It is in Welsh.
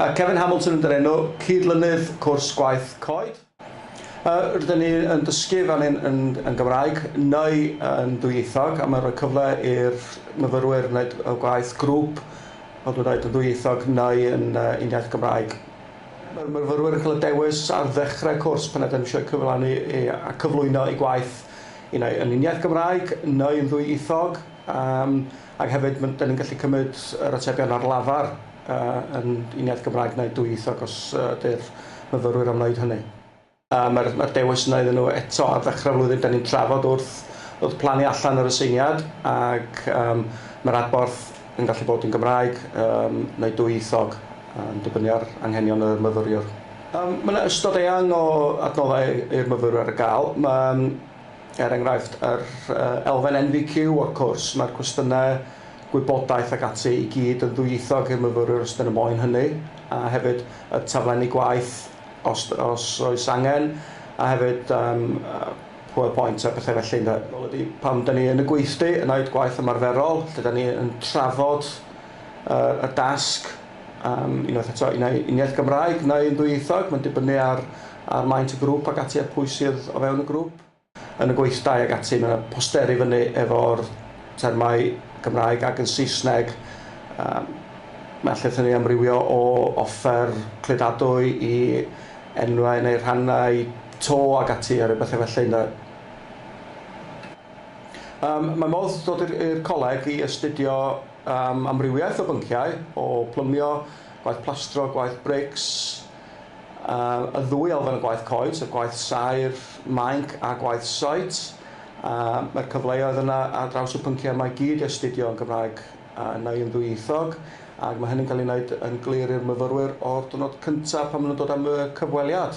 Uh, Kevin Hamilton yn dyrenu cyd-lynydd cwrs gwaith coed. Uh, rydyn ni yn dysgu fel yn, yn, yn Gymraeg neu yn ddwyieithog a mae'n rhoi cyfle i'r myfyrwyr wneud gwaith grŵp fel dwi'n dweud yn ddwyieithog neu yn uh, uniaith Gymraeg. Mae'r myfyrwyr yn cael y dewis ar ddechrau cwrs pan ydym eisiau cyflawni a cyflwyno eu gwaith un ai yn un iaith Gymraeg neu yn ddwyieithog yym ac hefyd ma' dan ni'n gallu cymryd yr atebion ar lafar yy yn un iaith Gymraeg neu dwyieithog os ydy'r myfyrwyr am wneud hynny. Yy mae'r mae'r dewis yna iddyn nhw eto ar ddechrau'r flwyddyn. Dan ni'n trafod wrth wrth plannu allan yr aseiniad ac yym mae'r adborth yn gallu bod yn Gymraeg yym neu dwyieithog yn dibynnu ar anghenion y myfyriwr. Yym mae yna ystod eang o adnoddau i'r myfyrwyr ar gael. Mae yym er enghraifft yr yy elfen NVQ o'r cwrs, mae'r cwestiynau gwybodaeth ac ati i gyd yn ddwyieithog i'r myfyrwyr os dyn nhw moyn hynny a hefyd y taflenni gwaith Os, os oes angen, a hefyd um, PowerPoint a pethau felly ynde. Wel ydy, pam da ni yn y gweithdy yn wneud gwaith ymarferol, lle da ni yn trafod uh, y dasg, um, unwaith eto, yn ei uniaith Gymraeg neu yn ddwyieithog, mae'n dibynnu ar, ar maint y grŵp ac ati a pwy sydd o fewn y grŵp. yn y gweithdai ag ati, mae 'na posteri fyny efo'r termau Cymraeg ac yn Saesneg, um, mae allith ni amrywio o offer cludadwy i enwau neu rhannau to ag ati a rhyw bethau felly ynde. Um, mae modd dod i'r coleg i astudio um, amrywiaeth o bynciau, o plymio, gwaith plastro, gwaith brics, y ddwy elfen o gwaith coed, so gwaith saer, mainc a gwaith site. Mae'r cyfleoedd yna ar draws y pynciau yma i gyd i astudio yn Gymraeg neu yn ddwyieithog, ac mae hynny'n cael ei wneud yn glir i'r myfyrwyr o'r diwrnod cyntaf pan maen nhw'n dod am y cyfweliad.